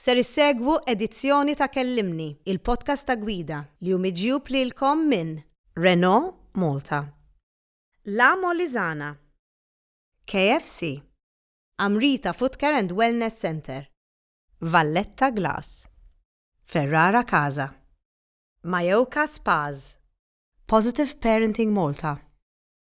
Ser issegwu edizzjoni ta' Kellimni, il-podcast ta' Gwida, li hu miġjub lilkom minn. Renault Malta. La Molisana. KFC. Amrita Footcare and Wellness Centre. Valletta Glass. Ferrara Casa. Majoka Spas. Positive Parenting Malta.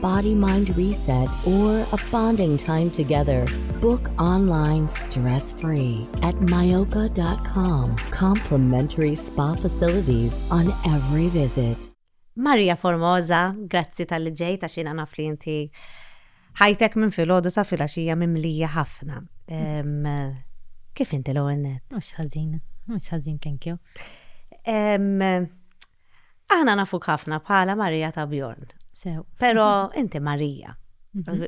Body Mind Reset or a bonding time together. Book online stress free at myoka.com. Complimentary spa facilities on every visit. Maria Formosa, grazzi tal-li ġejt għax jiena naf li inti ħajtek minn filgħodu sa filgħaxija mimlija ħafna. Kif inti l-ewwel net? Mhux ħażin, mhux ħażin, thank you. Aħna nafuk ħafna bħala Marija ta' Bjorn. Sew. Pero inti Marija. Mhm.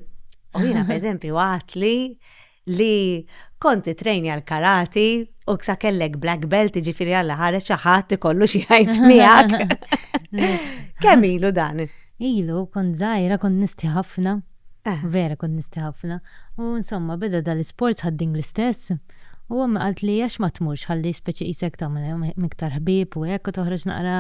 U jina per eżempju għat li li konti trejni għal karati u ksa kellek black belt ġifiri għalla ħareċ xaħat li kollu xieħajt miegħek. Kemm ilu dan? Ilu, kont zaħira, kont nisti ħafna. Vera kont nistħi ħafna. U insomma beda dal-isports ħad-ding l-istess. U ommi qaltli għax ma tmurx ħalli speċi qisek tagħmel iktar ħbieb u hekk u toħroġ naqra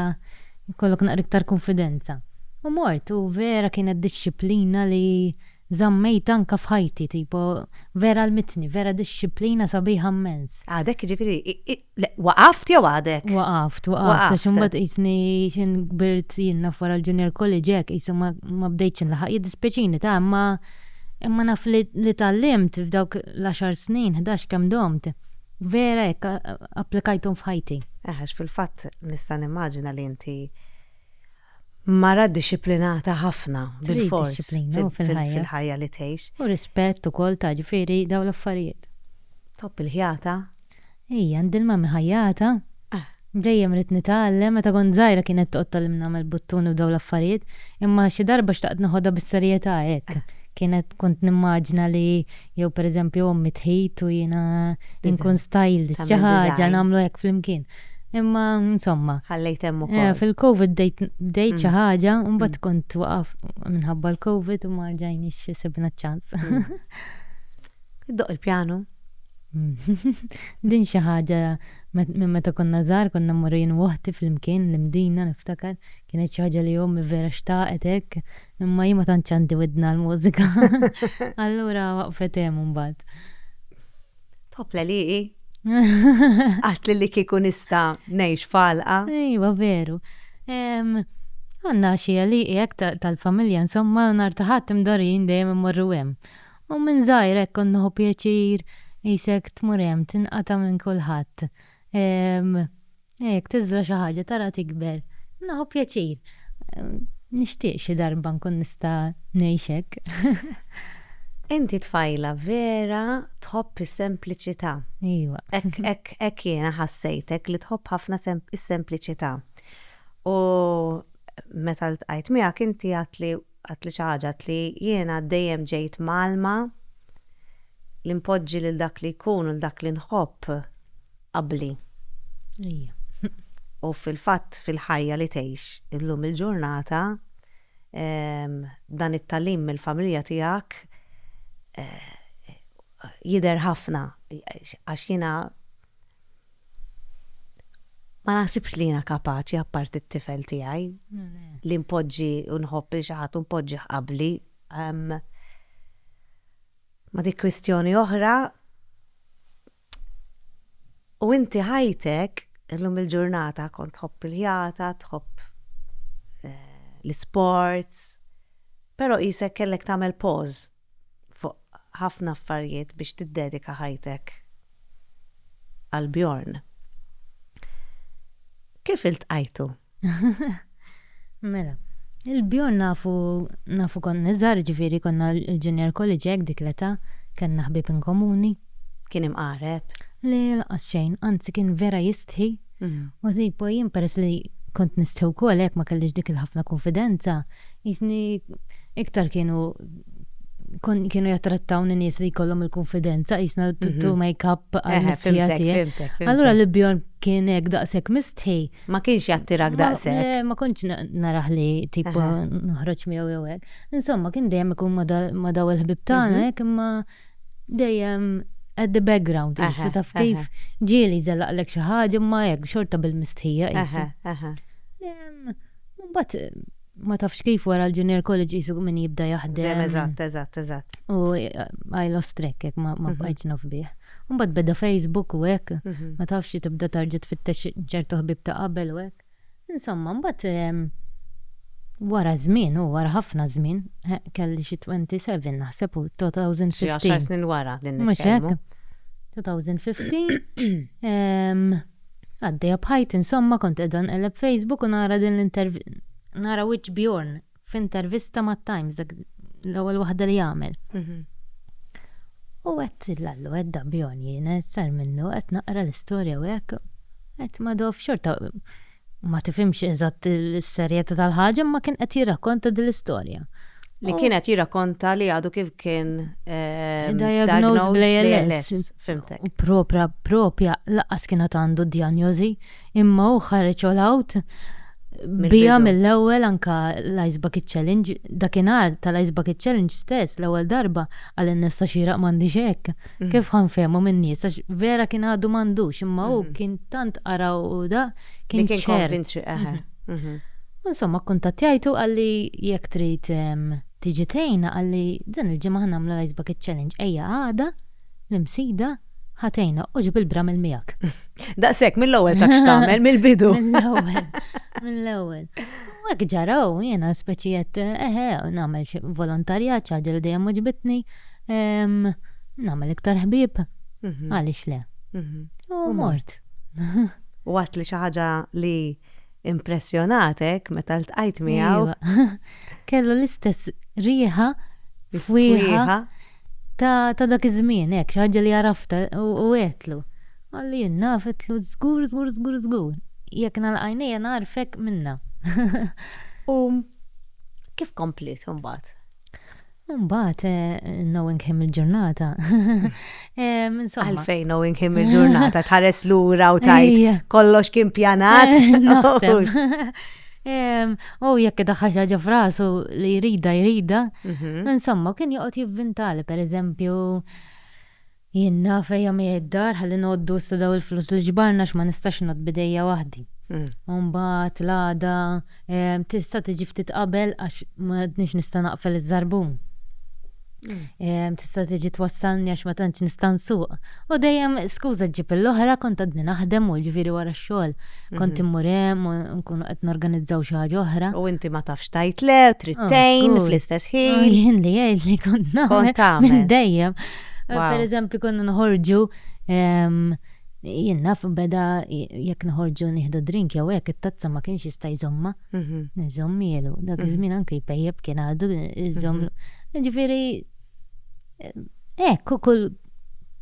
jkollok naqra iktar kunfidenza. U mort u vera kienet dixxiplina li żammejt anke f'ħajti tipo vera għallmitni, vera dixxiplina sabiħa mmens. Għadek jiġifieri Le, waqaft jew għadek? Waqaft, waqaft, għax Waqaft. imbagħad qisni xi kbirt jien naf wara l-junior college hekk qisu ma ma bdejtx inlaħaq. Jiddispjaċini ta' imma imma naf li li tgħallimt f'dawk l-għaxar snin, ħdax kemm domt, vera hekk applikajthom f'ħajti. Eh, għax fil-fatt nista' nimmaġina li inti mara dixxiplinata ħafna bilfors fil-ħajja li tgħix. U rispett ukoll ta' ġifieri dawn l-affarijiet. Tħobb il-ħjata? Ii, għandi l-mamm iħajjata. Dejjem ridt nitgħallem, meta kont żgħira kienet toqgħod tgħallimni nagħmel buttuni u dawn l-affarijiet, imma xi darba xtaqt noħodha bis-serjetà hekk. Kienet kont nimmaġina li jew pereżempju ommi tħit u jiena inkun stylist xi ħaġa nagħmlu hekk flimkien. Imma insomma. Ħallejt hemm ukoll. Fil-COVID bdejt xi ħaġa u mbagħad kont waqaf minħabba l-COVID u ma rġajniex sibna ċ-ċans. Iddoq il-pjanu? Din xi ħaġa minn meta konna żgħar konna mmorru jien u oħti flimkien l-imdina niftakar kienet xi ħaġa li ommi vera xtaqet hekk Imma jien ma tantx għandi widna għall-mużika. Allura waqfet hemm imbagħad. Top l-għaliqi. Għat li li kieku nista' ngħix falqa. Ejwa veru. Għandna xi għaliqi hekk tal-familja insomma nhar ta' Ħadd imdorrin dejjem immorru hemm. U minn żgħir hekk kont nieħu pjaċir qisek tmur hemm tinqata' minn kulħadd. Jekk tiżra' xi ħaġa tara tikber. Nieħu pjaċir. Nixtieq xi darba nkun nista' ngħix hekk. Inti tfajla vera tħobb is-sempliċità. Iva. Hekk hekk jiena ħassejtek li tħobb ħafna is-sempliċità. U meta ltqajt miegħek inti għedtli għedtli xi ħaġa għedtli jiena dejjem ġejt mgħallma li npoġġi lil dak li jkun u lil dak li nħobb. qabbli. U fil-fatt fil-ħajja li tgħix illum il-ġurnata dan it-tagħlim mill-familja tiegħek jidher ħafna għax jiena ma naħsibx li jiena kapaċi apparti t-tifel tiegħi li npoġġi u nħobb lil xi ħadd u npoġġih qabbli. Ma dik kwistjoni oħra. U inti ħajtek, illum il-ġurnata kont tħobb il-ħjata, tħobb l-isports, però qisek kellek tagħmel pause fuq ħafna affarijiet biex tiddedika ħajtek għal Bjorn. Kif iltqajtu? Mela, il-bjorn nafu nafu kont niżgħar, jiġifieri konna l-junior college hekk dik l-età, kellna ħbieb inkomuni. Kien imqareb? Le, lanqas xejn, anzi kien vera jistħi u tipo jien peress li kont nistħi wkoll hekk ma kellix dik il-ħafna kunfidenza, qisni iktar kienu kienu jattrattawni nies li jkollhom il-kunfidenza qisna mhm. tu make-up għal-mistħija tiegħi. Allura l-bjorn kien hekk daqshekk mistħi Ma kienx jattirak daqshekk. Le, ma kontx narah li tipo noħroġ miegħu jew hekk. Insomma, kien dejjem ikun ma' daw il-ħbieb tagħna hekk imma dejjem at the background qisu taf kif. Ġieli jżellaqlek xi ħaġa imma hekk xorta bil-mistħija qisu. Imbagħad ma tafx kif wara l-junior college jisu min jibda jaħdem. Dem, eżatt, eżatt, eżatt. U għaj l-ostrek, jek ma mhm. bqajċ nafbih. Mbagħad beda Facebook u hekk, mhm. ma tafx li tibda tarġa' tfittex ċertu ħbib ta' qabel u hekk. Insomma, mbagħad ehm, wara żmien u wara ħafna żmien, kelli xi 27 naħseb u 2015. Xi snin wara din Mhux hekk. 2015. Ehm, Għaddejja b'ħajti insomma kont qiegħda nqelleb Facebook u nara din l-intervista, nara wiċċ Bjorn f'intervista mat-Times, dak l-ewwel waħda li għamel. U għedt l-allu għedda Bjorn jiena sar minnu qed naqra l-istorja u hekk. Għedt ma dof xorta ma tifhimx eżatt is-serjetà tal-ħaġa imma kien qed jirrakkonta din l-istorja. Li kien qed jirrakkonta li għadu kif kien eh, diagnosed bl-ALS. Fhimtek. U propra propja laqqas kien għad għandu d-djanjożi, imma hu ħareġ all out bija mill-ewwel anka l-Ice Bucket Challenge, dakinhar tal-Ice Bucket Challenge stess l-ewwel darba għal in-nessa xieraq m'għandix hekk. Mm. Kif ħanfehmu min-nies għax vera kien għadu m'għandux, imma hu mm-hmm. kien tant qara u da kien ċert. Kien konvintri, eħe. Mm-hmm. Mm-hmm. Insomma, kuntattjajtu għalli jekk trid tiġi tgħinna għalli dan il-ġimgħa ħnamlu l-Ice Bucket Challenge ejja għada L-Imsida ħa tgħinha u ġib il-bramel miegħek. Daqshekk mill-ewwel ta' x'tagħmel mill-bidu. Mill-ewwel. Mill-ewwel. U hekk ġaraw jiena speċi qed eħe nagħmel xi volontarjat xi ħaġa li dejjem oġbitni. Ehm, Nagħmel iktar ħbieb. Mhm. Għaliex le? Mhm. U mort. U għat li xi ħaġa li impressjonatek meta ltqajt miegħu. Iva. Kellu l-istess riħa, fwieħa, Fwieħa. Ta' ta' dak iż-żmien, hekk, xi ħaġa li għaraftha, u u għedtlu. Qalli jien naf, għedtlu, żgur, żgur, żgur, żgur. Jekk nagħlaq għajnejja nagħrfek minnha. U kif kompliet imbagħad? U mbagħad, knowing him il-ġurnata, insomma. Għalfejn knowing him il-ġurnata tħares lura u tgħid kollox kien pjanat? Naħseb. U jekk idaħħal xi ħaġa f'rasu li jrida jrida, mhm. insomma kien joqgħod jivvintali pereżempju jien naf ejja mi id-dar ħalli noddu issa daw il-flus li ġbarna x'ma nistax nod bidejja waħdi. Mm. Mbagħad l-għada tista' tiġi ftit qabel għax ma nista' naqfel iż-żarbun. Tista' tiġi twassalni għax ma tantx nista' nsuq. U dejjem skuża ġib l-oħra kont għadni naħdem u ġifieri wara x-xogħol. Kont immur hemm u nkunu qed norganizzaw xi ħaġa oħra. U inti ma tafx tgħid le, trid tgħin fl-istess ħin. Jien li jgħid li kont nagħmel minn dejjem. Pereżempju konna noħorġu jien naf beda jekk noħorġu nieħdu drink jew hekk it-tazza ma kienx jista' jżommha. Iżommielu, dak iż-żmien anke jpejjep kien għadu iżomm. Ġifieri hekk kull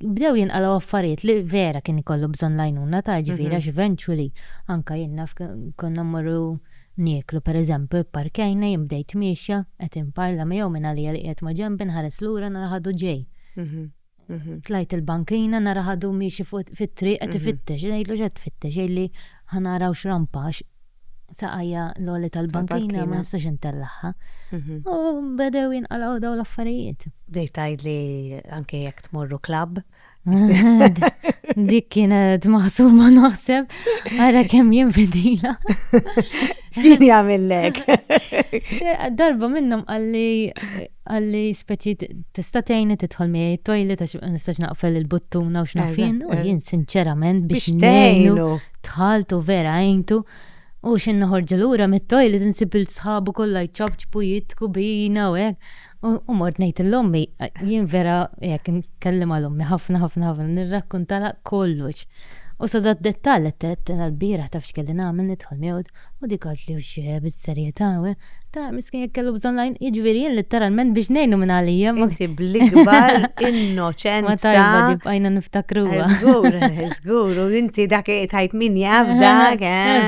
bdew jinqalgħu affarijiet li vera kien ikollu bżonn l-għajnuna ta' ġifieri għax eventually anke jien naf konna mmorru nieklu pereżempju pparkjajna jien bdejt miexja qed inparla miegħu minn għalija li qiegħed ma' ġenbi nħares lura nara ħadu ġej. Tlajt il-bankina nara ħadu miexi fit-triq qed ifittex, ngħidlu x'qed tfittex, jgħidli ħanaraw x'rampa għax saqajja l-għoli tal-bankina ma nistax intellagħha. U bedew jinqalgħu daw l-affarijiet. Bdejt tgħidli anke jekk tmorru klabb. Dik kienet maħsuma naħseb, ara kemm jien fidila. X'kien jagħmillek? Darba minnhom qalli Qal li speċi tista' tgħinni tidħol miegħi t-toilet għax ma nistax naqfel il-buttuna u x'naf jien. U jien sinċerament biex ngħinu tħaltu vera għintu. U xi noħorġu lura mit-toilet insib il-sħabu kollha jċapċpu jidħku bina u hekk. U mort ngħid l-ommi, jien vera jekk nkellim għal ommi ħafna ħafna ħafna nirrakkuntalha kollox. U sa dat dettall qed għall-bieraħ taf x'kelli nagħmel nidħol miegħu. U dik għad li wxi bis-serjetà u hekk. Tara, miskin jekk kellu bżonn l-għajn, jiġifieri jien litteralment biex ngħinu minn għalija. Inti bl-ikbar innoċenza. Ma tajba di bqajna niftakruha. Żgur, żgur, u inti dak tajt min jaf dak.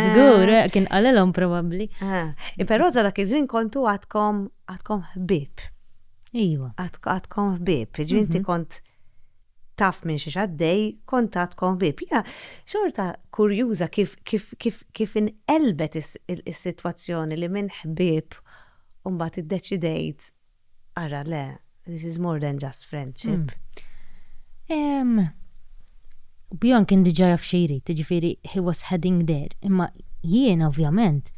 Żgur, kien qalilhom probabbli. Però ta' dak iż-żmien kontu għadkom għadkom ħbieb. Iva. Għadkom ħbieb, ġifieri inti kont taf minn xiex għaddej, kuntatt kon ħbieb. Jiena xorta kurjuża kif kif kif kif inqelbet is-sitwazzjoni li minn ħbieb mbagħad iddeċidejt ara le, this is more than just friendship. Bjorn kien diġà jaf xi jrid, jiġifieri he was heading there, imma jiena ovvjament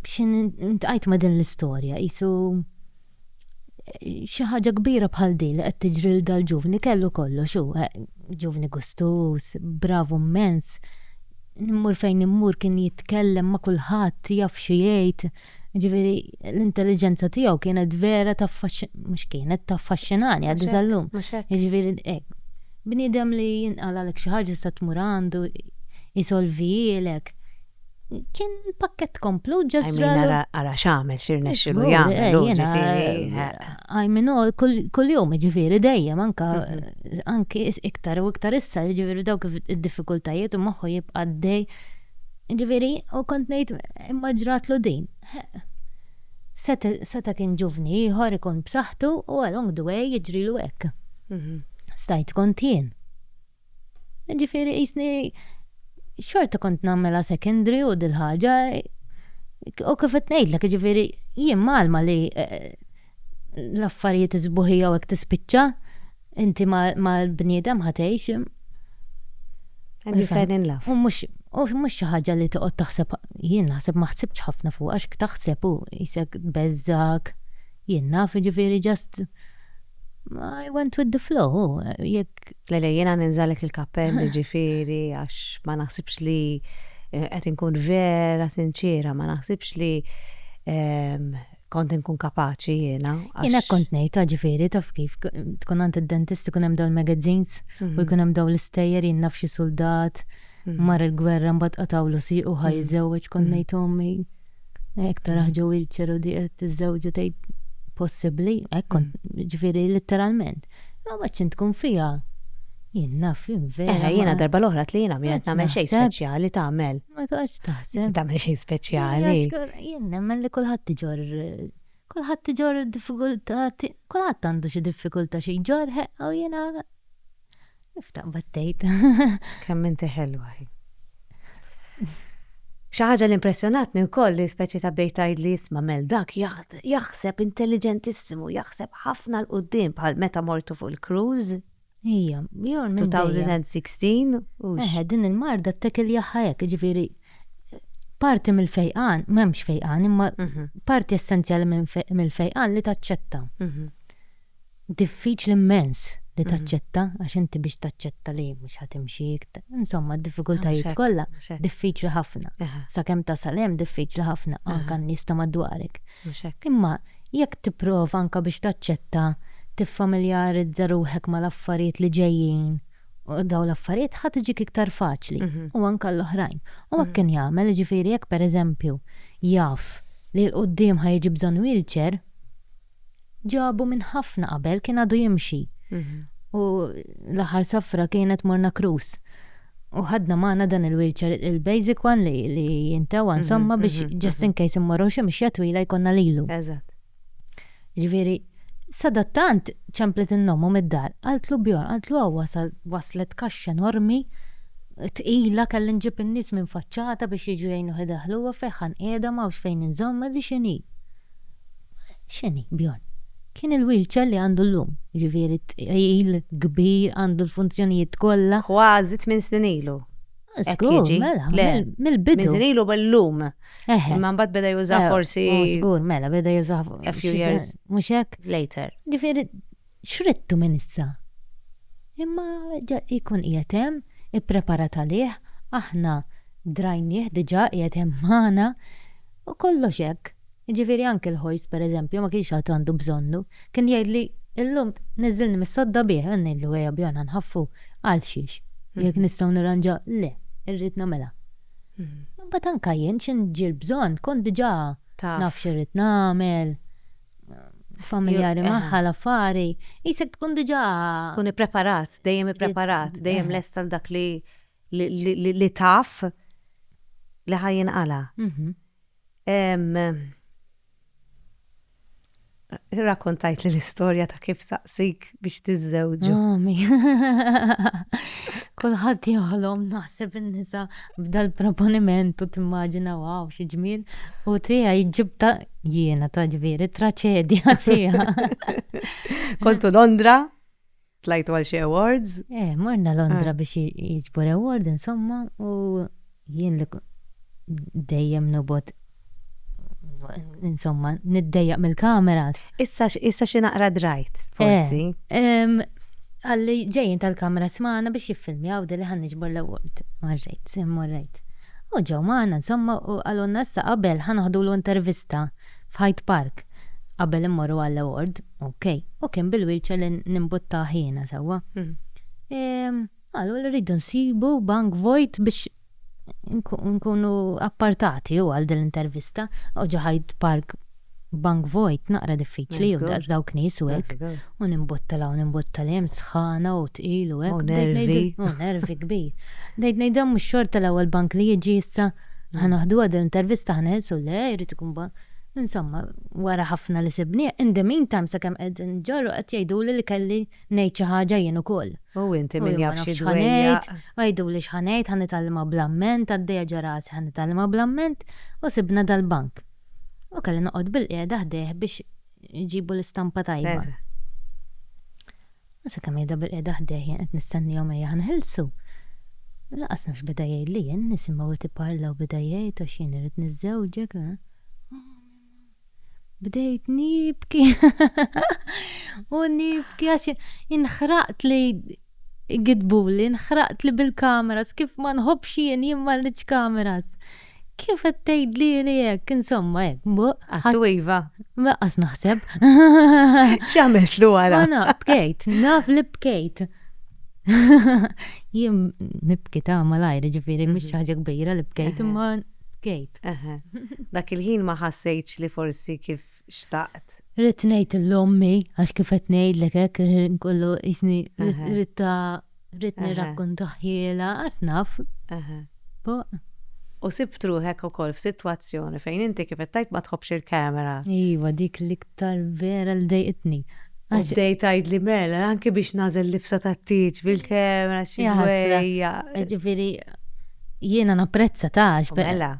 xi ntqajt ma' din l-istorja qisu, xi ħaġa kbira bħal din li qed tiġri lil dal-ġuvni kellu kollox hu, eh, ġuvni gustuż, bravu mmens, immur fejn immur kien jitkellem ma' kulħadd, jaf xi jgħid, jiġifieri l-intelliġenza tiegħu kienet vera taffaxxi-, mhux kienet, taffaxxinani għadha sal-lum. Jiġifieri hekk, bniedem li jinqalgħalek xi ħaġa tista' tmur għandu jsolvihielek. Kien pakkett komplut ġa Għajmin żralu. ara ara x'għamel x'irnexxilu Żgur, jagħmel eh, hu jiena, ġifieri. eh, eh. I mean, all- kull- kuljum jiġifieri dejjem anka anki is- iktar u iktar issa jiġifieri dawk id-diffikultajiet u moħħu jibqa' għaddej. Jiġifieri u kont ngħid imma ġratlu din. Heq. Seta' seta' kien ġuvni ieħor ikun b'saħħtu u along the way jiġrilu hekk. Stajt kont jien. Ġifieri qisni xorta kont nagħmilha secondary u dil-ħaġa u kif qed ngħidlek jiġifieri jien mgħallma li l-affarijiet is-sbuħija u hekk tispiċċa, inti mal-bniedem ħa tgħix. And you fell in love. U mhux u mhux xi ħaġa li toqgħod taħseb jien naħseb ma ħsibtx ħafna fuq għax taħseb u qisek tbeżżgħek. Jien naf jiġifieri just I went with the flow u jekk. Le le jiena ninżalek il-kappell jiġifieri għax ma naħsibx li qed inkun vera sinċiera, ma naħsibx li kont inkun kapaċi jiena. Jien hekk kont ngħid ta' ġifieri taf kif, tkun għand id-dentist ikun hemm dawn il-magazines u jkun hemm dawn l-istejjer jien naf xi suldat mar il-gwerra mbagħad qatgħulu siequ ħa jiżżewweġ kont ngħid ommi hekk taraha ġo wheelchair u di qed tiżżewweġ u tgħid possibbli hekk kont ġifieri litteralment. Ma ma ċin tkun fija. Jien naf jien vera. Eħe, jiena darba l-oħra li jiena minn tagħmel xejn speċjali tagħmel. Ma toqgħodx taħseb. Tagħmel xejn speċjali. Jien nemmen li kulħadd iġor kulħadd iġor diffikultà, kulħadd għandu xi diffikultà xi jġor ħeqqa u jiena Kif taqbad tgħid? Kemm inti ħelwa hi. Xi ħaġa li impressjonatni wkoll li speċi ta' bdejt tgħidli isma' mel dak jaħseb intelliġentissimu, jaħseb ħafna l qudiem bħal meta mortu fuq il-cruise. Ija, jew 2016 u. Eħe, din il-marda t-tekel jaħħajek, ġifieri parti mill-fejqan, m'hemmx fejqan, imma mhm. parti essenzjali mill-fejqan li taċċetta. Mhm. Diffiċli mmens li taċċetta għax inti biex taċċetta li mhux ħa timxi insomma d-diffikultajiet kollha diffiċli ħafna. Sakemm tasal hemm diffiċli ħafna anke għan-nies ta' madwarek. Imma jekk tipprova anke biex taċċetta tiffamiljarizza ruħek mal-affarijiet li ġejjin dawn l-affarijiet ħa tiġik iktar faċli u anke għall-oħrajn. U hekk kien jagħmel jiġifieri jekk pereżempju jaf li 'l quddiem ħa jiġi bżonn wheelchair, ġabu minn ħafna qabel kien għadu jimxi. U l-aħħar safra kienet morna krus. U ħadna maħna dan il-wheelchair, il-basic one li, li jintawa insomma biex just in case immorru xi mixja twila jkonna lilu. Eżatt. Ġifieri, sadattant ċemplet innomu mid-dar, qaltlu bjor, qaltlu hawn wasal, waslet kaxxa enormi, tqila kelli nġib in-nies minn faċċata biex jiġu jgħinuh idaħħluha fejn ħa nqiegħda m'hawnx fejn inżommha di x'inhi. X'inhi, Bjorn? Kien il-wheelchair li għandu llum, jiġifieri tqil, kbir, għandu l-funzjonijiet kollha. Kważi tmien snin ilu. Hekk jiġi. Żgur, mela, mill-bidu. Tmien snin ilu billum. Eħe. Imma mbagħad beda jużah forsi. Żgur, mela, beda jużah. A few years. Mhux hekk? Later. Jiġifieri. X'ridtu minn issa? Imma jkun qiegħed hemm, ippreparat għalih, aħna drajnieh diġà qiegħed hemm magħna, u kollox hekk. Jiġifieri anki l-ħojs, pereżempju, ma kienx għad għandu bżonnu. Kien jgħidli, Illum niżżilni mis-sodda bih, u ngħidlu, Ejja bjorn ħa nħaffu. Għalxiex? Jekk nistgħu nirranġa, le, irrid nagħmilha. Imbagħad anke jien xi nġi l-bżonn kont diġà naf x'irrid nagħmel. familjari eh. magħha l-affari, jisek tkun diġà. Kun ippreparat, dejjem ippreparat, dejjem eh. lest għal dak li li taf li ħajjin għala. Mhm. Rakontajt li l-istorja ta' kif saqsik biex tiżżewġu. Kulħadd joħlom naħseb in-nisa b'dal-proponiment u timmaġina waw xi ġmiel u tiegħi jġib ta' jiena ta' ġviri traċedja tiegħi. Kontu Londra, tlajtu għal xi awards? Eh, morna Londra ah. biex jiġbor award insomma u Jien li dejjem nobgħod insomma niddejjaq mill-kameras. Issa issa xi naqra drajt, forsi. Għalli ġejjin tal-kameras magħna biex jiffilmjaw li ħan niġbor l-award. Marrejt, morrejt. U ġew magħna insomma u qalulna issa qabel ħa noħdulu intervista f'Hyde Park qabel immorru għall-award. Okej. U kien bil-wheelchair li nimbuttah jiena sewwa. Qalu li rridu nsibu bank vojt biex inkunu appartati hu għal din l-intervista. U ġo Hyde Park bank vojt naqra diffiċli hu daqs dawk nies u hekk. U nimbotta 'l hawn nimbotta 'l hemm sħana u tqil u hekk. U nervi. U nervi kbir. Bdejt ngħid dan mhux xorta l-ewwel bank li jiġi issa ħa naħduha din l-intervista ħa neħilsu le jrid ikun bank. Insomma wara ħafna li sibnieh in the meantime sakemm qegħdin inġorru qed jgħiduli li kelli Ngħid xi ħaġa jien ukoll. U inti min jaf xi dwejjaq. Għiduli x'ħa ngħid, ħa nitgħallimha bl-amment, għaddejja ġo rasi ħa nitgħallimha bl-amment, u sibna dal-bank. U kelli noqgħod bilqiegħda ħdejh biex iġibu l-istampa tajba. U sakemm qiegħda bilqiegħda ħdejh jien qed nistennihom ejja ħa nħilsu. Laqas nafx beda jgħidli jien, nisimgħu qed iparla u beda jgħid għax jien irrid niżżewġek. bdejt nibki u nibki għax inħraqt li gidbuli, inħraqt li bil-kameras, kif ma nħobx jien jien ma rridx kameras. Kif qed tgħidli li hekk, insomma hekk, buq. Għattu iva. Maqas naħseb. X'għamilt lu għara? Għana, bkejt, naf li bkejt. Jien nibki ta' malajr, ġifiri, mhux mhm. ħaġa kbira li bkejt, imma bkejt. Eħe. Dak il-ħin ma ħassejtx li forsi kif xtaqt. Ridt ngħid 'l ommi għax kif qed ngħidlek hekk il-ħin kollu qisni ridtha ridt nirrakkontahielha qatt naf. Eħe. Fuq. U sibt ruħek ukoll f'sitwazzjoni fejn inti kif qed tgħid ma tħobbx il-camera. Iva dik l-. Tal-vera li dejqitni. U bdejt tgħidli mela, anki biex nagħżel libsa tat-tieġ bil-kemra xi dwejja. Jiġifieri jiena napprezza tax. Mela.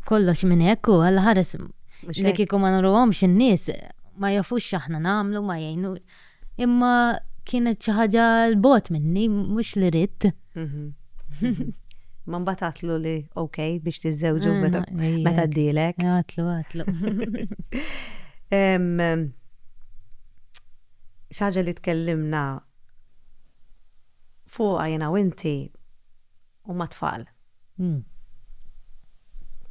Kollox minn hekk u alla ħares li kieku ma nurruhomx in-nies ma jafux x'aħna nagħmlu ma jgħinu. Imma kienet xi ħaġa l bogħod minni, mhux li ridt. Ma mbagħad għatlu li ok biex tiżżewġu meta meta ddilek. Għatlu, għatlu. Xaġa li tkellimna fuqha jiena u inti u mat-tfal.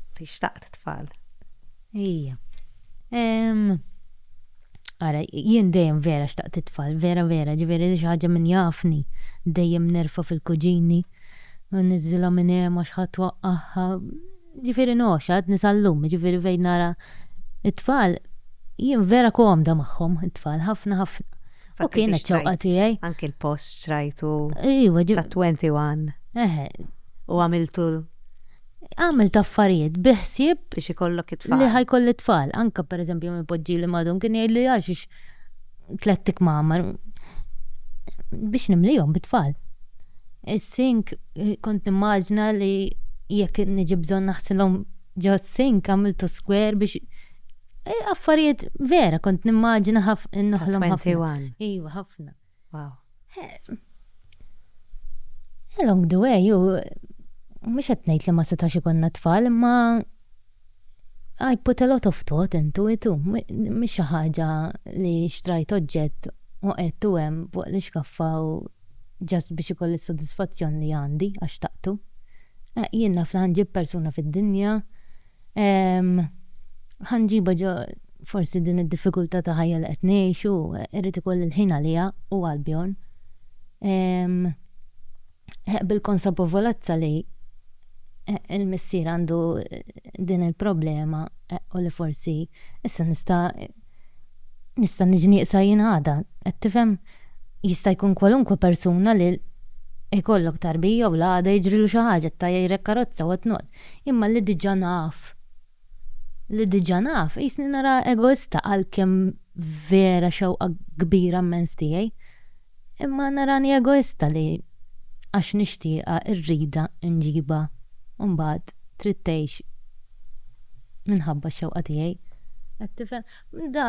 Inti xtaqt tfal. Ejja. Ara, jien dejjem vera xtaqt it-tfal, vera vera, ġifieri xi ħaġa min jafni dejjem nerfa' fil-kuġini, u niżżilha minn hemm għax ħadd waqqagħha. Ġifieri ngħoxx għadni sal-lum, jiġifieri fejn nara t-tfal, jien vera komda magħhom it-tfal, ħafna ħafna. U kienet ċewqa tiegħi. Anki l-post xtrajtu ta' 21. Eħe. U għamiltu għamil taffarijiet biħsib biex ikollok it-tfal. Li ħajkolli t-tfal, anka per eżempju minn poġġi li madhom kien jgħid li għax tlett ikmamar biex nimlijhom bit-tfal. Is-sink eh, kont nimmaġna li jekk niġi bżonn naħsilhom ġo s-sink għamiltu skwer biex eh, affarijiet vera kont nimmaġna ħafna. Iva, ħafna. Wow. Along the way, ju, mux għetnejt li ma setax ikonna tfal, ma I put a lot of thought into it, mux ħaġa li xtrajt oġġett u għettu għem fuq li xkaffa u ġast biex ikoll il-soddisfazzjon li għandi għax taqtu. Jien naf li ħanġib persuna fid-dinja Ehm, ħa nġibha ġo forsi din id-diffikultà ta' ħajja li qed ngħixu, irrid ikolli l-ħin għaliha u għal Bjorn. Ehm, eh, bil-konsapovolezza li eh, il-missier għandu eh, din il-problema eh, u li forsi issa nista' nista' niġi nieqsa jien għada, qed tifhem? Jista' jkun kwalunkwe persuna li jkollok tarbija u l-għada jiġrilu xi ħaġa, ttajjajrek karozza, what not. Imma li diġà naf, li diġà naf, qisni naraha egoista għalkemm vera xewqa kbira mmens tiegħi. Imma narani egoista li għax nixtieqha rridha nġibha u mbagħad trid tgħix minħabba x-xewqa tiegħi. Qed tifhem? Da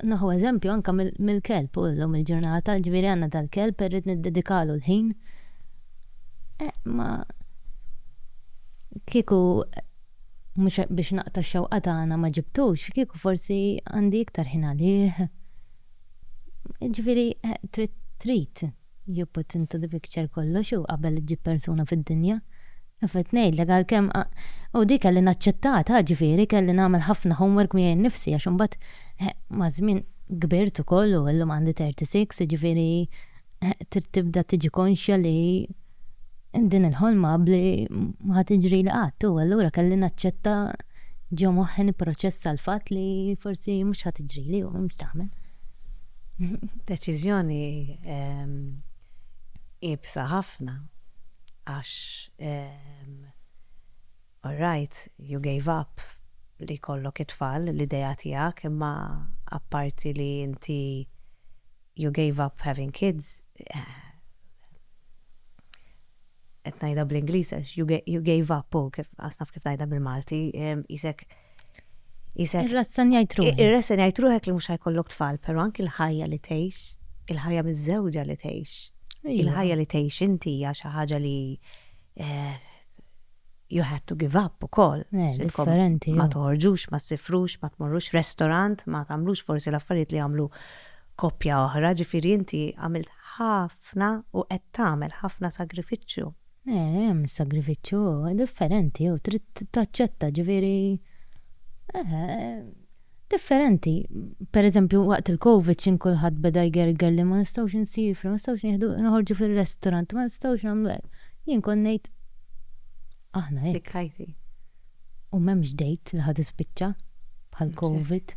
neħu eżempju anke mill-kelb hu llum il-ġurnata, ġifieri għandna dal-kelb irrid niddedikalu l-ħin. Eh, ma kieku mhux biex naqta' x-xewqa tagħna ma ġibtux, kieku forsi għandi iktar ħin għalih. Ġifieri trid trid you put into the picture kollox u qabel iġġib persuna fid-dinja. Kif qed ngħidlek għalkemm u di kelli naċċettatha ġifieri kelli nagħmel ħafna homework miegħi nnifsi għax imbagħad maż-żmien kbirt ukoll u illum għandi 36 jiġifieri trid tibda tiġi konxja li din il-ħolma qabbli ma ħa tiġrili qatt u allura kelli naċċetta ġo moħħi nipproċessa l-fatt li forsi mhux ħa tiġrili u mhux tagħmel. Deċiżjoni iebsa ħafna għax all right, you gave up li jkollok it-tfal, l-idea tiegħek imma apparti li inti you gave up having kids, qed ngħidha bl-Ingliż għax you gave up u kif qas naf kif ngħidha bil-Malti, isek isek. Irrassenjajt ruħek. Irrassenjajt ruħek li mhux ħajkollok tfal, però anki l-ħajja li tgħix, il-ħajja miż-żewġa li tgħix, il-ħajja li tgħix inti hija xi ħaġa li you had to give up ukoll. Eh, differenti. Ma toħorġux, ma ssifrux, ma tmorrux restaurant, ma tagħmlux forsi l-affarijiet li jagħmlu koppja oħra, ġifieri inti għamilt ħafna u qed tagħmel ħafna sagrifiċċju. Eh, hemm is-sagrifiċċju differenti u trid taċċetta, ġifieri eh. differenti. Per eżempju waqt il-Covid x'in kulħadd beda jgerger li ma nistgħux insifru, ma nistgħux nieħdu noħorġu fir-restaurant, ma nistgħux nagħmlu hekk. Jien kont ngħid aħna hekk. Dikkajti. U m'hemmx date li ħa tispiċċa bħall-Covid.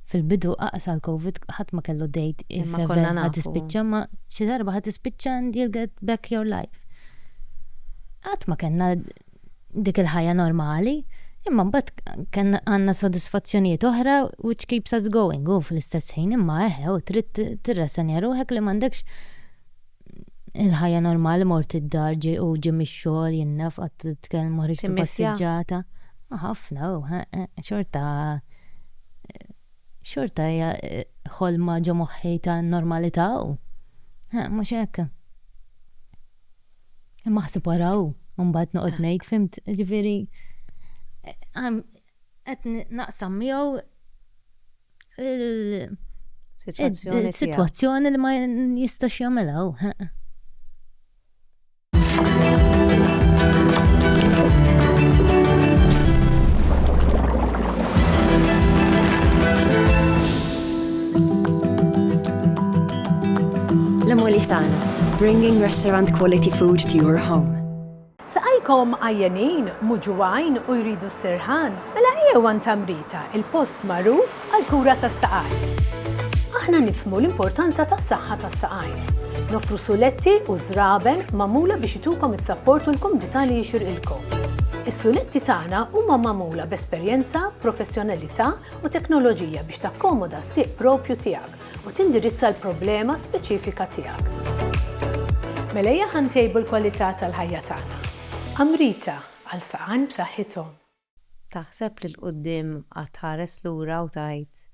Fil-bidu aqas għall-Covid ħadd ma kellu date if ever ħa tispiċċa ma xi darba ħa tispiċċa and you'll get back your life. Qatt ma kellna dik il-ħajja normali, imma mbagħad kellna għandna sodisfazzjonijiet oħra which keeps us going u fl-istess ħin imma eħe u trid tirrasenja ruħek li m'għandekx il-ħajja normali mort id-dar ġej u ġej mix-xogħol jien naf qatt tkellmu ħriġt il-passiġġata. Ħafna u xorta xorta hija ħolma ġo moħħi ta' normalità u mhux hekk. Imma ħsib wara hu, mbagħad noqgħod eh. ngħid fimt, ġifieri qed naqsam miegħu il-sitwazzjoni li ma jistax jagħmilha hu. La Molisana, bringing restaurant quality food to your home. Saqajkom għajjenin, muġuwajn u jridu s-sirħan, mela ejjew għand Tamrita, il-post magħruf għall-kura tas-saqajn. Aħna nifhmu l-importanza tas-saħħa tas-saqajn. Noffru suletti u żraben magħmula biex itukom is-sapport u l-kumdità li jixirqilkom. Is-suletti tagħna huma magħmula b'esperjenza, professjonalità u teknoloġija biex takkomoda s-sieq propju tiegħek. u tindirizza l-problema speċifika tiegħek. Mela ejja ħa ntejbu l-kwalità tal-ħajja tagħna. Amrita, għal saqajn b'saħħithom. Taħseb li 'l quddiem qatt tħares lura u tgħid,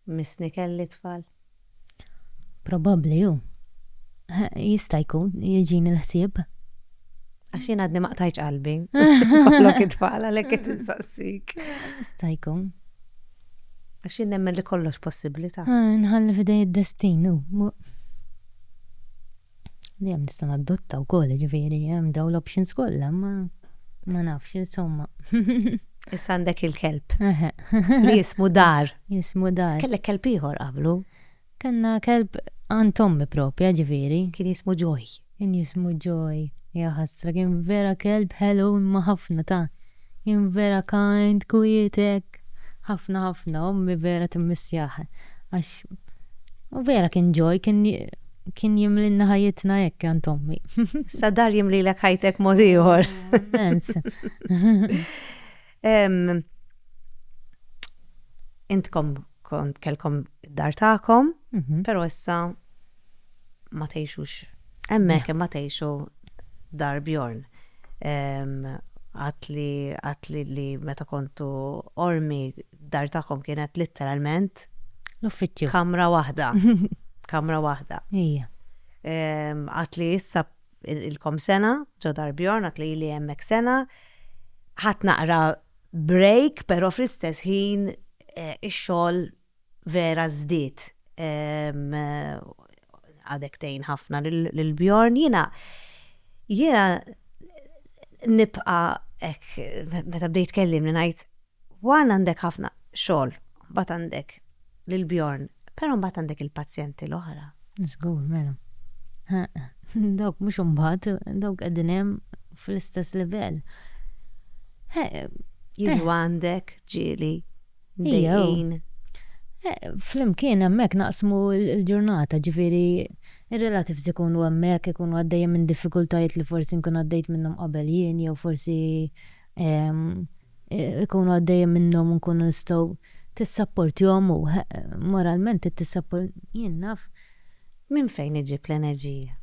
Missni kelli tfal? Probabbli hu. Jista' jkun, jiġini l-ħsieb. Għax jien għadni ma qtajtx qalbi. Kollok it-tfal għalhekk qed insaqsik. Jista' jkun. Għax jien nemmen li kollox possibbli ta. Nħalli f'idejn id-destin u. Dejjem nista' nadotta wkoll, jiġifieri hemm dawn l-options kollha, imma ma nafx, insomma. Issa għandek il-kelb. Eħe. Li jismu Dar. Jismu Dar. Kellek kelb ieħor qablu. Kellna kelb għand ommi proprja, ġifieri. Kien jismu Joy. Kien jismu Joy. Ja ħasra, kien vera kelb ħelu imma ħafna ta'. Kien vera kind, kwiet hekk. Ħafna ħafna, ommi vera timmissjah. Għax u vera kien Joy, kien kien jimlilna ħajjitna hekk għand ommi. Sa dar jimlilek ħajtek mod ieħor. Immens. Intkom kont kelkom dar tagħkom, mhm. però issa ma tgħixux hemmhekk ma tgħixu dar Bjorn. Għatli għatli li meta kontu ormi dar tagħkom kienet litteralment l-uffiċċju. Kamra waħda. Kamra waħda. Ija. Għatli issa Ilkom sena ġo Dar Bjorn għad li ili hemmhekk sena. Ħadt naqra break però fl-istess ħin ix-xogħol vera żdied. Għadek tgħin ħafna lil Bjorn. Jiena jiena nibqa' hekk meta bdejt tkellimni ngħid Juan għandek ħafna xogħol, mbagħad għandek lil Bjorn, però mbagħad għandek il-pazjenti l-oħra. Żgur, mela. Dawk mhux imbagħad, dawk qegħdin hemm fl-istess livell. Jiġu għandek ġieli, dejjin. Flimkien hemmhekk naqsmu l-ġurnata, ġifieri ir-relatives ikunu hemmhekk, ikunu għaddejjem minn diffikultajiet li forsi nkun għaddejt minnhom qabel jien jew forsi ikunu għaddejjin minnhom u nkunu nistgħu tissapportjhom u moralment trid tissappor jien naf. Minn fejn iġib l-enerġija?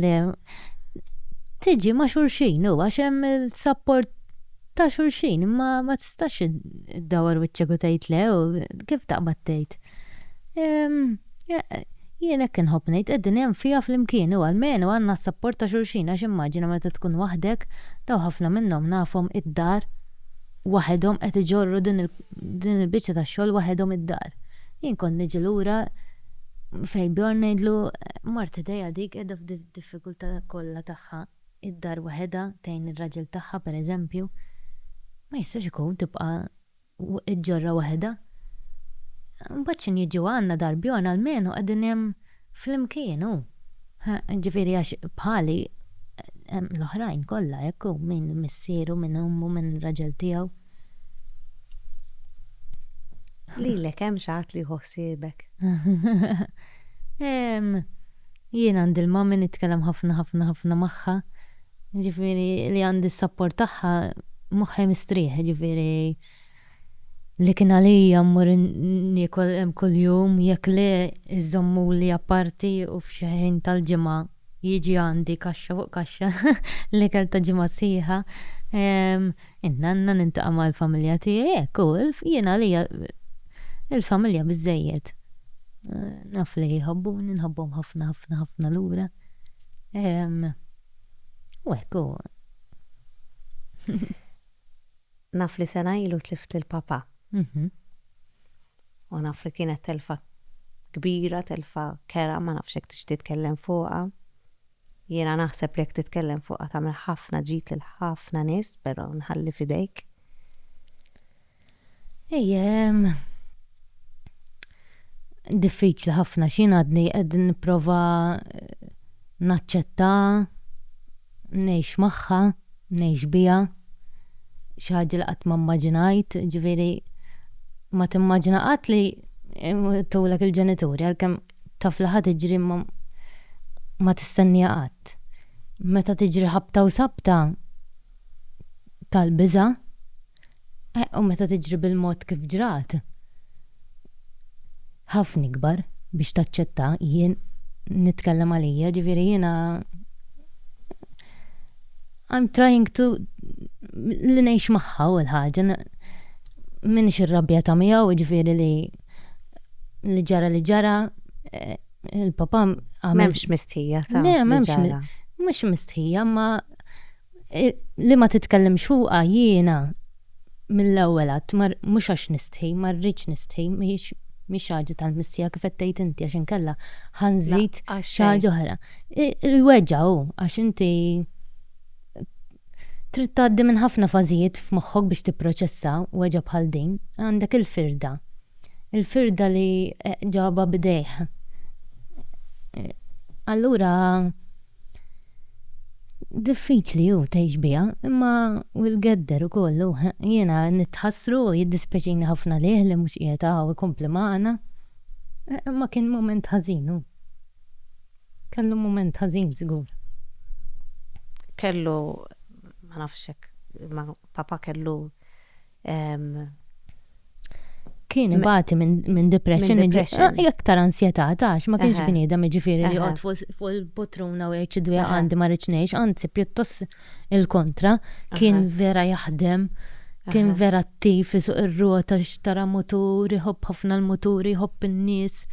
Le, tiġi ma' xulxin u għax hemm il-sapport ta' xulxin imma ma tistax iddawwar wiċċek u tgħid le u kif taqbad tgħid. Jien hekk inħobb ngħid, id-dinja nfiha flimkien u almenu għandna s-sapport ta' xulxin għax immaġina meta tkun waħdek, daw ħafna minnhom nafhom id-dar waħedhom qed iġorru din il-biċċa tax-xogħol waħedhom id-dar. Jien kont niġi lura fejn Bjorn ngħidlu mart ħdejha dik qiegħda f'diffikultà kollha tagħha id-dar waħedha tgħin ir-raġel tagħha pereżempju. Ma jistax ikun tibqa' ġorra waħda. Imbagħad x'inhi jiġu għandna darbjorn almenu qegħdin hemm flimkien hu. Ġifieri għax bħali hemm l-oħrajn kollha hekk hu min missieru, min ommu, min raġel tiegħu. Lilek hemm xi ħadd li jieħu ħsiebek? Jien għandi l-mommy nitkellem ħafna ħafna ħafna magħha. Jiġifieri li għandi s-sapport tagħha moħħi mistrieħ, jiġifieri li kien għalija mmur niekol hemm kuljum jekk le jżommuli apparti u f'xi ħin tal-ġimgħa jiġi għandi kaxxa fuq kaxxa l-ikel ta' ġimgħa sħiħa. In-nanna niltaqa' mal-familja tiegħi hekk hu jien għalija l-familja biżżejjed. Naf li jħobbuni nħobbhom ħafna ħafna ħafna lura. Ehm. U hekk hu. Naf li sena ilu tlift lil papà. Mhm. U naf li kienet telfa kbira, telfa kerha, ma nafx jekk tixtieq titkellem fuqha. Jiena naħseb li jekk titkellem fuqha tagħmel ħafna ġid lil ħafna nies, però nħalli f'idejk. Ejja, diffiċli ħafna x'jien għadni qed nipprova naċċetta, ngħix magħha, ngħix biha, xi ħaġa li qatt ma mmaġinajt, ġifieri ma timmaġina qatt li jmutulek il-ġenituri għalkemm taf li ħa tiġri imma ma tistennieha qatt. Meta tiġri ħabta u sabta tal-biża'. Eh, u meta tiġri bil-mod kif ġrat, ħafna ikbar biex taċċetta, jien nitkellem għalija, ġifieri jiena I'm trying to li ngħix magħha u l-ħaġa minix irrabjata miegħu ġifieri li li ġara li ġara eh, il-papa għamel. Memx mistħija ta' li ġara. Mux mistħija ma li ma titkellimx fuqha jiena mill-ewwel għedt mhux għax nistħi, ma rridx nistħi, mhix xi ħaġa tal-mistħija kif qed tgħid inti għax inkella ħa nżid xi ħaġa oħra. Il-weġgħa hu għax inti trid tgħaddi minn ħafna fażijiet f'moħħok biex tipproċessa weġgħa bħal din. Għandek il-firda. Il-firda li ġabha b'idejh. Allura Diffiċli hu tgħix biha, imma hu l-gedder ukoll hu. Jiena nitħassru u jiddispjaċini ħafna lih li mhux qiegħed hawn ikompli magħna. Imma kien mument ħażin hu. Kellu mument ħażin żgur. Kellu, ma nafx hekk, imma papà kellu Kien ibati minn depressjoni, ah, iktar ansjetà tax, ma kienx bniedem ġifieri li jqgħod fuq il-potruna u jgħid dwejja għandi ma rridx ngħix, anzi pjuttost il-kontra, kien vera jaħdem, kien vera attiv isuq ir-rota xtara mutur, iħobb ħafna l-mutur, iħobb in-nies,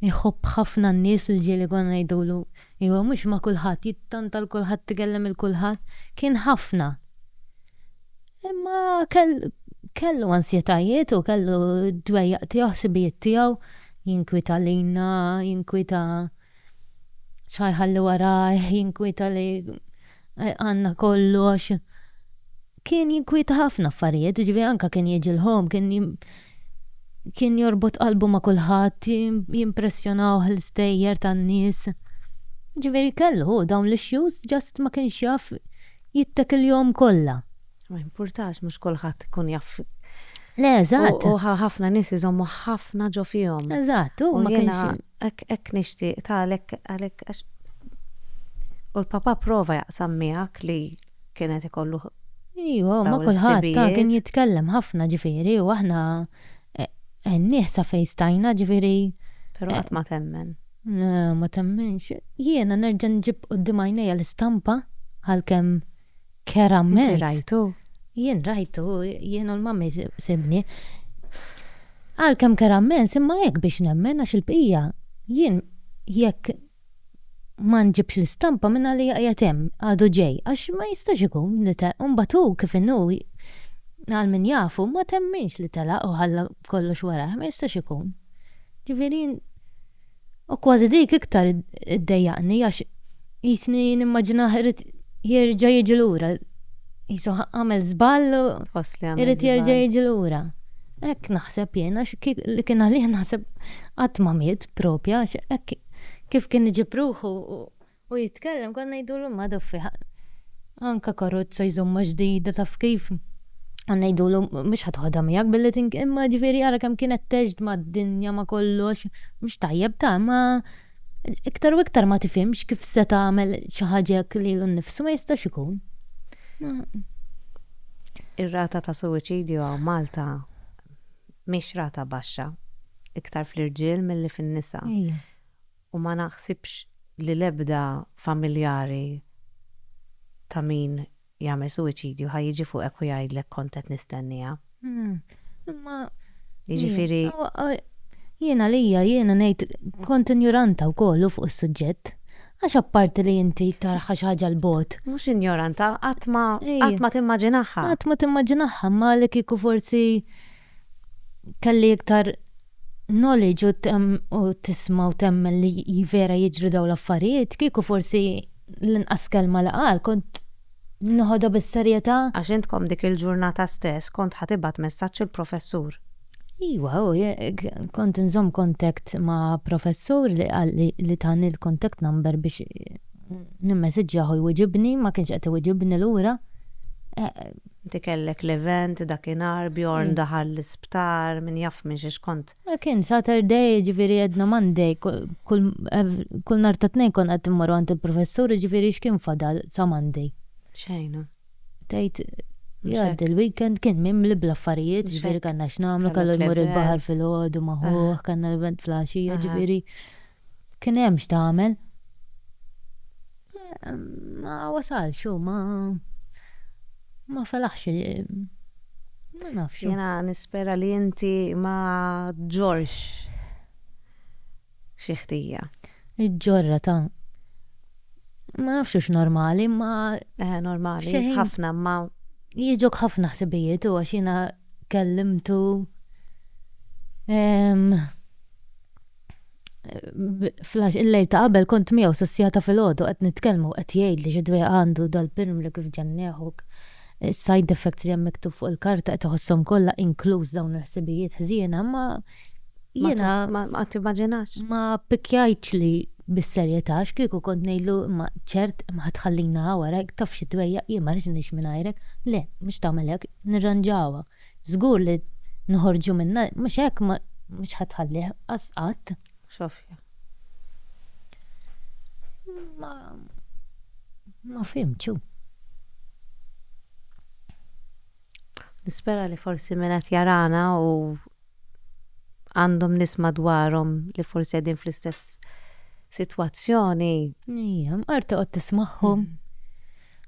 iħobb ħafna n-nies li ġieli konna ngħidulu iva mhux ma' kulħadd, jittanta l-kulħadd, ikellem il-kulħadd, kien ħafna. Imma kellu ansjetajiet u kellu d-dwejjaq tiegħu, ħsibijiet tiegħu, jinkwieta lilna, jinkwieta x'ħa jħalli warajh, jinkwieta li għandna kollox. Kien jinkwieta ħafna affarijiet, jiġifieri anke kien jiġi l-Home, kien jorbot qalbu ma' kulħadd, jimpressjonawh l-istejjer tan-nies. Jiġifieri kellu hu dawn l-issues, just ma kienx jaf. jittakilhom kollha. Ma jimpurtax, mhux kulħadd ikun jaf. Le, eżatt. U ħafna nies iżommu ħafna ġo fihom. Eżatt, u ma kienx. Hekk nixtieq ta' għalhekk għalhekk għax. U l-papa prova jaqsam miegħek li kienet ikollu Ejwa, ma kulħadd ta' kien jitkellem ħafna ġifieri u aħna nieħsa fejn stajna ġifieri. Però qatt ma temmen. Ma temminx. Jiena nerġa' nġib quddiem għajnejja l-istampa, għalkemm kerha mmens. Inti rajtu? Jien rajtu, jien u l-Mummy sibni. Għalkemm kerha mmens, imma hekk biex nemmen għax il-bqija, jien jekk ma nġibx l-istampa mingħalija qiegħed hemm, għadu ġej, għax ma jistax ikun li telaq. U mbagħad hu kif inhu, għal min jafu, ma temminx li telaq u ħalla. kollox wara, ma jistax ikun. Ġifieri u kważi dik iktar iddejjaqni għax jisni nimmaġina irid jerġa' jiġi lura. Jisu għamel żball u irid jerġa' jiġi lura. Hekk naħseb jien għax li kien għalih naħseb qatt ma miet propja għax hekk kif kien iġib ruħu U jitkellem konna ngħidulu madu f'fiħan. Anke karozza jżommha ġdida taf kif. Konna ngħidulu mhux ħa toħodha miegħek billi tink imma ġifieri ara kemm kienet tgħex mad-dinja ma' kollox. Mhux tajjeb ta' imma iktar u iktar ma tifhimx kif se tagħmel xi ħaġa jekk lilu nnifsu ma jistax ikun. Ir-rata ta' suwiċidju hawn Malta mhix rata baxxa, iktar fl-irġiel milli fin-nisa. U ma naħsibx li l-ebda familjari ta' min jagħmel suwiċidju ħa jiġi fuqek u jgħidlek kont qed nistennieha. Imma. Jiġifieri. Jien għalija, jiena ngħid, kont injoranta wkoll hu fuq is-suġġett. Għax apparti li inti taraha xi ħaġa 'l bogħod. Mhux injoranta, qatt ma, qatt ma timmaġinaha. Qatt ma timmaġinaha, imma li kieku forsi kelli iktar knowledge u tisma' u temmen li jivera jiġru daw l-affarijiet, kieku forsi l-inqas kelma li qal kont noħodha bis-serjetà. Għax intkom dik il-ġurnata stess kont ħa tibgħat messaġġ il-professur. Iwa, u kont inżomm contact ma' professur li qalli li tani l-contact number biex nimmesseġġjah u jwiġibni, ma kienx qed iwiġibni lura. Inti kellek l-event dakinhar, Bjorn daħal l-isptar, min jaf minn xiex kont. Kien Saturday, jiġifieri Edna Monday, kull nhar ta' Tnejn konna qed immorru għand il-Professur, jiġifieri x'kien fadal sa Monday? Xejn. Tgħid jgħaddi l-weekend kien mimli bl-affarijiet, jiġifieri kellna x'nagħmlu, kellu jmur il-baħar filgħodu ma' ħuh, kellna l-event fl-għaxija, jiġifieri. Kien hemm x'tagħmel. Ma wasalx u ma ma felaħx ma nafx. Jiena nispera li inti ma ġġorrx xi ħtija. Iġġorrha ta' ma nafx hux normali imma. Eħe normali, ħafna imma. Jiġuk ħafna ħsibijiet u għax jiena kellimtu. flash il-lejl ta' qabel kont miegħu sissjata filgħodu qed nitkellmu qed jgħid li xi dwejqa għandu dal-pirm li kif ġennieħu is-side effects li hemm miktub fuq il-karta qed iħosshom kollha inkluż dawn il-ħsibijiet ħżiena imma jiena ma timmaġinax. Ma ppikkjajtx li bis-serjetà x'kieku kont ngħidlu imma ċert ma ħadd tħallina hawn warajk taf xi dwejjaq jien ma rridx ngħix mingħajrek le mhux tagħmel hekk nirranġawha. Żgur li noħorġu minnha, mhux hekk mhux ħa tħallih qas qatt. Xofja. Ma ma fhimtx hu. Nispera li forsi min qed jarana u għandhom nies madwarhom li forsi qegħdin fl-istess sitwazzjoni. Ejja, mqar toqgħod tismagħhom. Mm.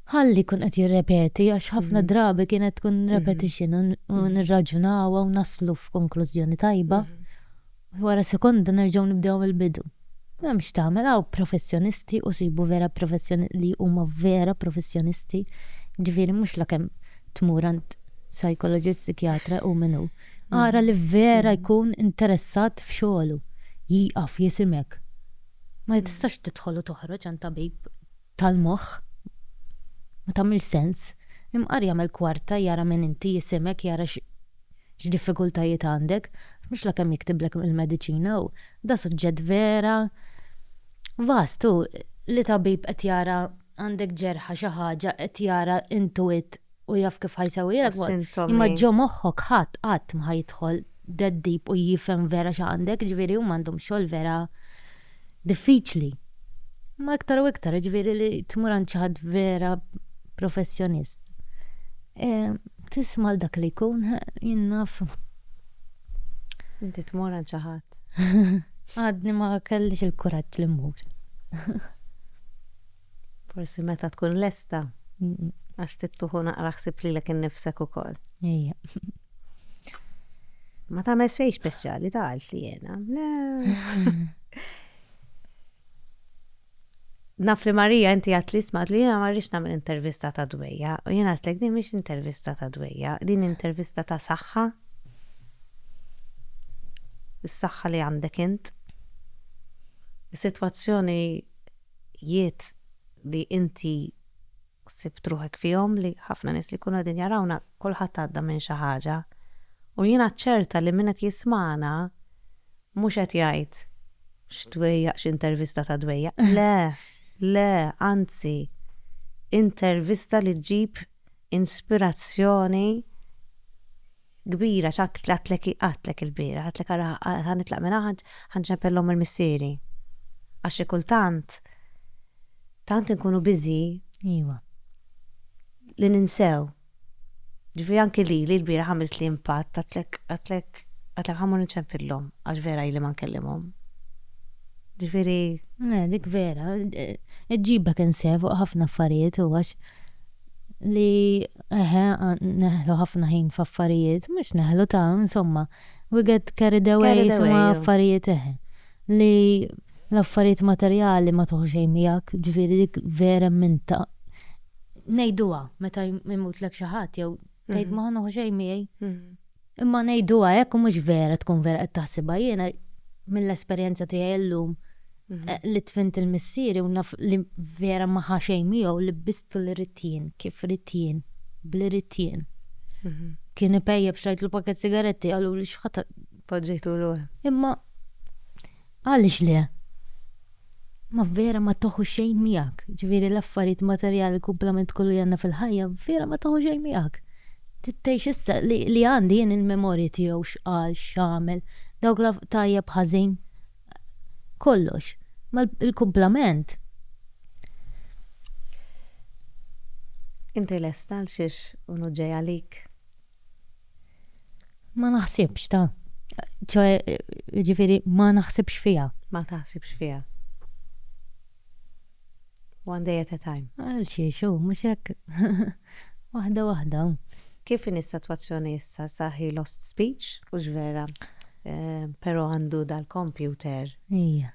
Ħalli jkun qed jirrepeti għax ħafna drabi kienet tkun repetition u nirraġunawha u naslu f'konklużjoni tajba. Wara sekonda nerġgħu nibdew mill-bidu. M'hemm x'tagħmel hawn professjonisti u sibu vera professjoni li huma vera professjonisti, jiġifieri mhux la kemm tmur għand psychologist, psikjatra u min hu. Ara li vera jkun interessat f'xogħlu. Jieqaf jisimek. Ma tistax tidħol u toħroġ għand tabib. tal-moħħ. Ma tagħmilx sens. Imqar jagħmel kwarta jara min inti, jisimek, jara x' x'diffikultajiet għandek. Mhux la kemm jiktiblek il-mediċina u da suġġett vera vast hu li tabib qed jara għandek ġerħa xi ħaġa qed jara intuwit. u jaf kif ħa jsewwilek ukoll. Għas-sintomi. Imma ġo moħħok ħadd qatt ma ħa jidħol that deep u jifhem vera x'għandek, jiġifieri huma għandhom xogħol vera diffiċli. Imma iktar u iktar, jiġifieri li tmur għand xi ħadd vera professjonist. Tisma' 'l dak li jkun, jien naf. Inti tmur għand xi ħadd. Għadni ma kellix il-kuraġġ li mmur. Forsi meta tkun lesta. Għax tittuħu naqra ħsib lilek innifsek ukoll. Ejja. Ma ta' mesfej speċjali ta' għalt li jena. Naf li Marija inti għat li smat li jena marriċ namil intervista ta' dwejja. U jena għatlek din miex intervista ta' dwejja, din intervista ta' saħħa. Is-saħħa li għandek int. Is-situazzjoni ħajjiet li inti ħsibt ruħek fihom, li ħafna nies li jkunu qegħdin jarawna, kulħadd għadda minn xi ħaġa. U jiena ċerta li min qed jismagħna mhux qed jgħid, X'dwejjaq, x'intervista ta' dwejjaq. Le, le, anzi, intervista li ġġib inspirazzjoni. kbira x'għadt għadtlek għadtlek ilbieraħ, għadtlek ara ħa nitlaq minn hawn ħa nċempel l-omm il missieri. Għax xi kultant tant inkunu biżi Iwa. li ninsew. Ġifieri anki lili lbieraħ għamilt li impatt għadtlek għadtlek għadtlek ħammur nċempillhom għax vera ili ma nkellimhom. Ġifieri. Eh, dik vera, iġġibek insef fuq ħafna affarijiet u għax li eħe neħlu ħafna ħin f'affarijiet, mhux neħlu ta' insomma we get carried away insomma affarijiet eħe. Li l-affarijiet materjali ma tieħu xejn miegħek, ġifieri dik vera minn ta' ngħiduha meta jmutlek xi ħadd jew tgħid ma ħa nieħu xejn miegħi. Imma ngħiduha hekk u mhux vera tkun vera qed taħsibha. Jiena mill-esperjenza tiegħi llum li tfint il-missieri u naf li vera ma ħa xejn miegħu li bistu li ridt jien, kif ridt jien, b'li ridt jien. Kien ipejjep xtrajtlu pakkett sigaretti qaluli x'ħa Poġġejtulu. Imma Għaliex le? Ma vera ma teħu xejn miegħek. Ġifieri l-affarijiet materjali l-kumplament kollu li għandna fil-ħajja vera ma teħu xejn miegħek. Trid tgħix issa li għandi jien il-memorji tiegħu x'qal, x'għamel, dawk tajjeb ħażin, kollox. Ma l-kumplament. Inti lesta għal xiex u hu ġej għalik? Ma naħsibx ta' ċoħe ġifiri ma naħsibx fija. Ma taħsibx fija. One day at a time. Għal xie xo, mux hekk. Wahda wahda. Kif in is-sitwazzjoni issa sa he lost speech u ġvera eh, pero għandu dal-computer. Ija.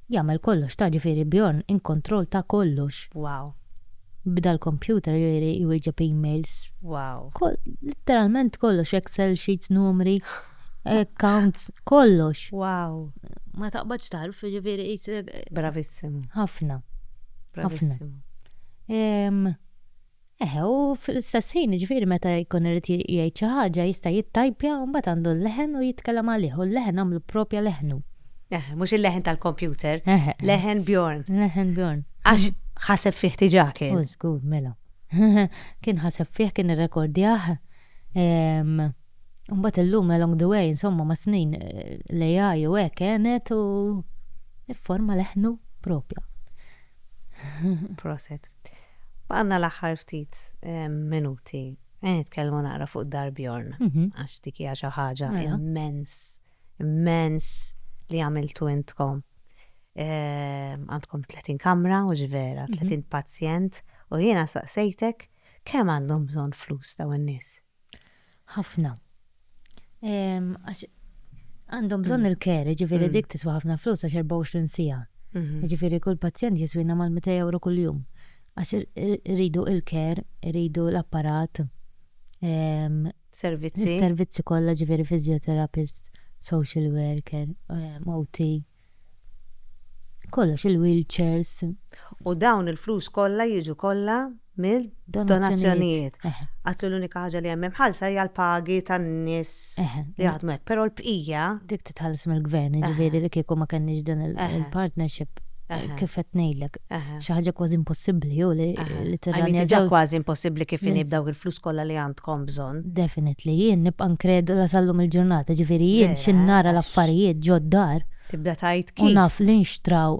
Jagħmel kollox ta' ġifieri Bjorn in kontroll ta' kollox. Wow. Bda l-computer jieri jwieġeb emails. Wow. Koll litteralment kollox excel sheets numri accounts kollox. Wow. Ma taqbadx tagħrf jiġifieri qisek. Bravissimo. Ħafna. Bravissimo. Ħafna. Ehm. Eħe, u fl-istess ħin, jiġifieri meta jkun irid jgħid xi ħaġa, jista' jittajpja u mbagħad għandu l-leħen u jitkellem għalih, u l-leħen għamlu proprja leħnu. Eħe, mhux il-leħen tal-kompjuter. Eħe. Leħen Bjorn. Leħen Bjorn. Għax ħaseb fih diġà kien. U żgur, mela. Kien ħaseb fih, kien irrekordjah. U mbagħad illum along the way, insomma, mas-snin l-AI u hekk għenet u fforma leħnu proprja. Proset. Baqanna l-aħħar ftit minuti. Għen nitkellmu naqra fuq Darbjorn, mhm. għax dik hija xi ħaġa mela. immens, immens li għamiltu intkom. Għandkom 30 kamra, u ġvera, 30 mhm. pazjent, u jiena saqsejtek kemm għandhom bżonn flus daw in-nies. Ħafna. Ehm, għax għandhom bżonn mm. il-care, ġifiri mm. dik tiswa ħafna flus għax 24 sija. Mhm. Ġifiri kull pazjent jiswina mal-200 euro kull-jum. Għax rridu il-care, rridu l-apparat. Ehm, servizzi. Servizzi kollha ġifiri fizjoterapist, social worker, ehm, OT. Kollox il-wheelchairs. U dawn il-flus kollha jiġu kollha mid-donazzjonijiet. Għidt li l-unika ħaġa li hemm imħallsa hija l-pagi tan-nies li jaħdmu hekk, però l-bqija. Dik titħallas mill-Gvern, jiġifieri li kieku ma kenniex din il-partnership, kif qed ngħidlek. Xi ħaġa kważi impossibbli hu li tirranja żewġ. Kważi impossibbli kif inhi b'dawk il-flus kollha li għandkom bżonn. Definitely, jien nibqa' inkredula sal-lum il-ġurnata, ġifieri jien xi nara l-affarijiet ġod-dar. Tibda tgħid kif. U naf li nxtraw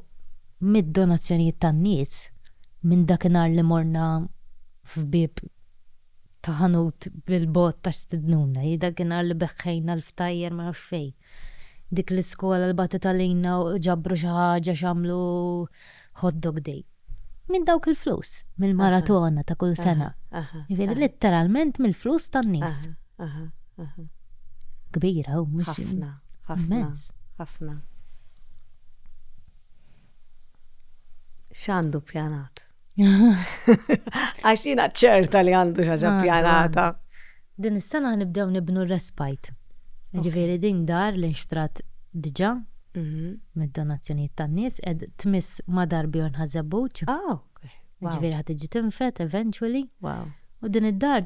mid-donazzjonijiet tan-nies, minn dakinhar li morna f'bieb ta' ħanut bil-bogħod ta' stidnuna, hi dakinhar li beħħejna l-ftajjer ma nafx fejn. Dik l-iskola li bagħtet għalina u ġabru xi ħaġa x'għamlu Hot Dog Day. Minn dawk il-flus, mill-maratona ta' kull sena. Jiġifieri litteralment mill-flus tan-nies. Kbira hu mhux. Ħafna, ħafna, ħafna. X'għandu ppjanat? Għax jina ċerta li għandu xaġa ah, pjanata. Din is-sena nibdew nibnu respite. Ġifieri din dar li nxtrat diġà mhm. mid-donazzjonijiet tan-nies qed tmiss ma' darbi u nħażebbuċ. Ah, ġifieri ħad tiġi tinfet eventually. Wow. U din id-dar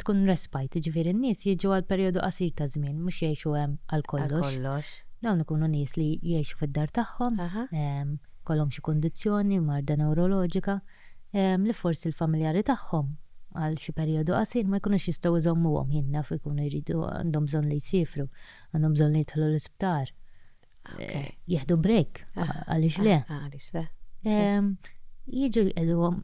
tkun respite, ġifieri n-nies jiġu għal perjodu qasir ta' żmien, mhux jgħixu hemm għal kollox. Dawn ikunu nies li jgħixu fid-dar tagħhom. jkollhom xi kundizzjoni, marda newroloġika, li forsi l-familjari tagħhom għal xi perijodu qasir ma jkunux jistgħu jżommuhom, jien naf ikunu jridu, għandhom bżonn li jsifru, għandhom bżonn li jidħlu l-isptar, jieħdu break, għaliex le? Għaliex le? Jiġu jqegħduhom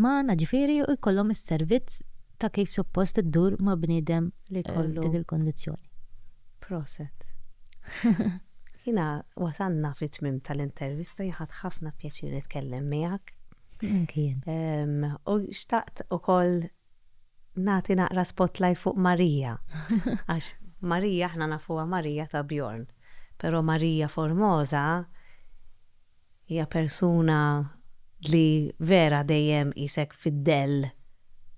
magħna ġifieri u jkollhom is-servizz ta' kif suppost iddur ma' bniedem li kollu dik il-kundizzjoni. Proset. Jiena wasalna fit-tmiem tal-intervista jien ħadt ħafna pjaċir nitkellem miegħek. Anki jien. U xtaqt ukoll nagħti naqra spotlight fuq Marija. Għax Marija aħna nafuha Marija ta' Bjorn. Però Marija Formosa Hija persuna li vera dejjem qisek fid-dell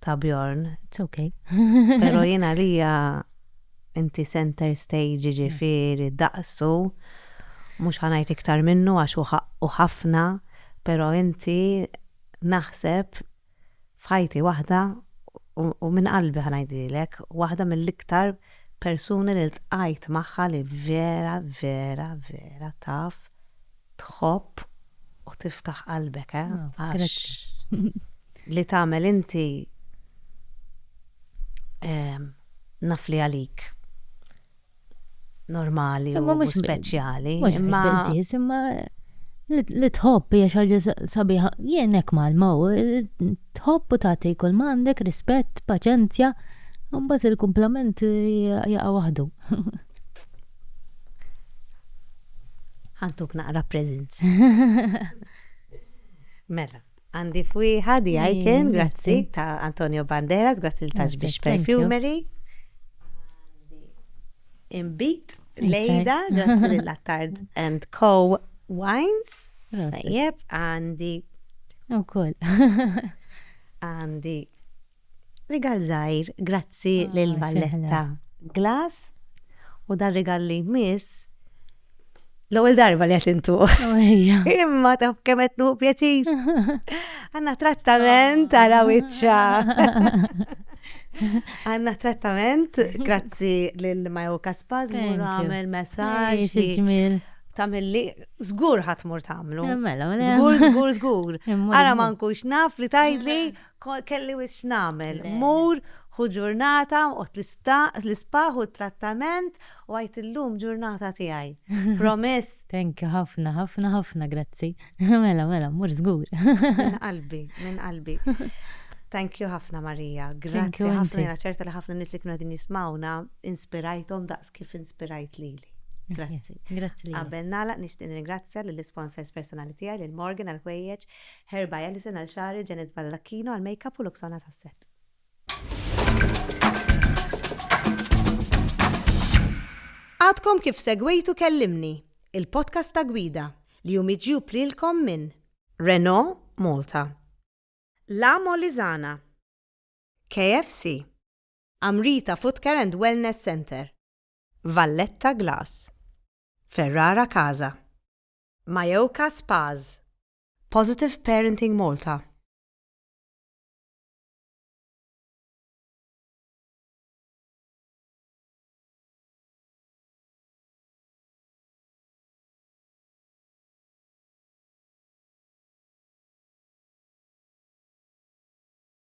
ta' Bjorn. It's okay. Pero jien għalija inti center stage jiġifieri daqsu, mhux ħa ngħid iktar minnu għax hu ħaqqu ħafna, pero inti naħseb f'ħajti waħda u minn qalbi ħa ngħidilek, waħda mill-iktar persuni li ltqajt magħha li vera, vera, vera taf tħobb u tiftaħ qalbek, eh? Għax li tagħmel inti naf li għalik. normali u speċjali. Mhux biżżież, imma li tħobb hija xi ħaġa sabiħa. Jien hekk malma u tħobb u tagħti kull ma għandek, rispett, paċenzja, u mbagħad il-kumplament jaqa' waħdu. Ħantuk naqra presents. Mela. Għandi f'wieħa di Icon, grazzi, ta' Antonio Banderas, grazzi l-Taxbix Perfumery. Imbit, Lejda, grazzi l-Attard and Co. Wines. Tajjeb, għandi. U koll. Għandi Rigal żgħir grazzi lil Valletta Glass u dan rigal li jmiss l-ewwel darba li qed intuh. Imma taf kemm qed nuħu pjaċir. Għandna trattament għala wiċċa. Għanna trattament, grazzi lil Majo Kaspaz, mur għamel messaġ. Tamilli, zgur ħatmur tamlu. Zgur, zgur, zgur. Għara ma nkunx naf li tajdli Kelli wisq x'nagħmel. Mur, hu ġurnata, oqgħod l-ispaħ u t-trattament u għid illum ġurnata tiegħi. Promise. Thank you ħafna, ħafna, ħafna grazzi. Mela, mela, mmur żgur. Minn qalbi, minn qalbi. Thank you ħafna Marija. Grazzi ħafna, jiena ċerta li ħafna nies li kienu qegħdin jismgħuna inspirajthom daqs kif inspirajt lili. Grazzi. Grazzi lilek. Qabel nagħlaq nixtieq nirringrazzja lill-isponsors personali tiegħi, lil Morgan għall-ħwejjeġ, Herba Ellison għal xagħri, Janice Baldacchino għal makeup u Luxana Sasset. Għadkom kif segwejtu Kellimni, il-podcast ta' gwida li hu miġjub lilkom minn Renault Malta, La Molizana, KFC, Amrita Footcare and Wellness Center, Valletta Glass, Ferrara Casa, Majoka Spas, Positive Parenting Malta.